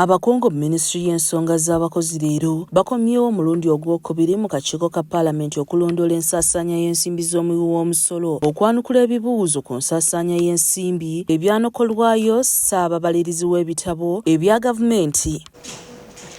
Abakungu mu minisitule y'ensonga z'abakozi leero bakomyewo omulundi ogwokubiri mu kakiiko ka paalamenti okulondoola ensaasaanya y'ensimbi z'omuwi w'omusolo, okwanukula ebibuuzo ku nsaasaanya y'ensimbi, ebyanokolwayo, ssaababalirizi w'ebitabo ebya gavumenti.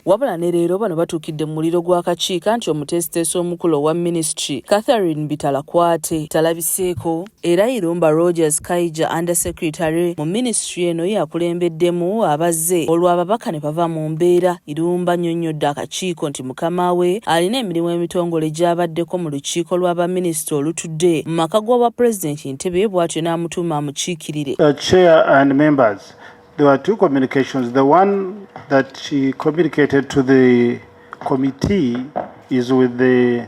Wabula ne leero bano batuukidde mu muliro gw'akakiiko anti omuteesiteesi omukulu owa minisitule, Catherine Bitalakwate talabiseeko. Era Irumba Rogers Kaija Under Secretary mu minisitule eno yakulembeddemu abazze olwo ababaka ne bava mu mbeera. Irumba annyonnyodde akakiiko nti mukama we alina emirimu emitongole gy'abaddeko mu lukiiko lwa baminisita olutudde mu maka g'obwa pulezidenti Entebbe bw'atyo n'amutuuma amukiikirire. Uh, chair and members, there were two communications. The one that she communicated to the committee is with the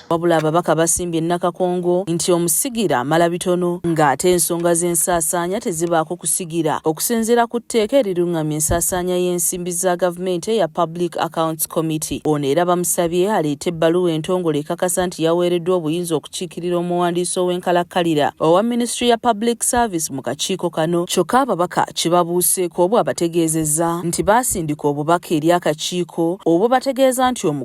Wabula ababaka basimbye Nakakongo nti omusigira amala bitono nga ate ensonga z'ensaasaanya tezibaako kusigira okusinziira ku tteeka erirung'amya ensaasaanya y'ensimbi za gavumenti eya Public Accounts Committee. Ono era bamusabye aleete ebbaluwa entongole ekakasa nti yaweereddwa obuyinza okukiikirira omuwandiisi ow'enkalakkalira owa minisitule ya Public Service mu kakiiko kano kyokka ababaka kibabuuseeko bw'abategeezezza nti baasindika obubaka eri akakiiko obubategeeza nti omu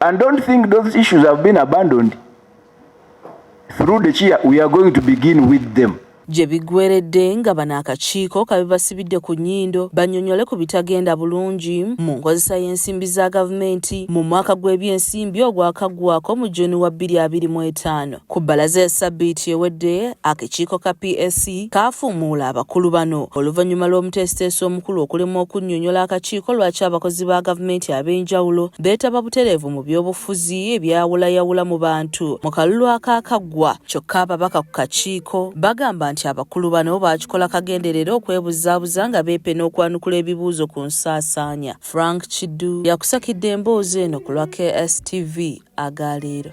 And don't think those issues have been abandoned. Through the chair, we are going to begin with them. gye biggweredde nga bano akakiiko kabibasibidde ku nnyindo bannyonnyole ku bitagenda bulungi mu nkozesa y'ensimbi za gavumenti mu mwaka gw'ebyensimbi ogwakaggwako mu juni wa 2025 Ku bbalaza ya ssabbiiti ewedde, akekiiko ka PAC kaafuumuula abakulu bano oluvannyuma lw'omuteesiteesi omukulu okulemwa okunnyonnyola akakiiko lwaki abakozi ba gavumenti ab'enjawulo beetaba butereevu mu byobufuzi ebyawulayawula mu bantu mu kalulu akaakaggwa. Kyokka ababaka ku kakiiko bagamba nti abakulu bano baakikola kagenderere okwebuzaabuza nga beepena okwanukula ebibuuzo ku nsaasaanya. Frank Kiddu yakusakidde emboozi eno ku lwa KSTV aga leero.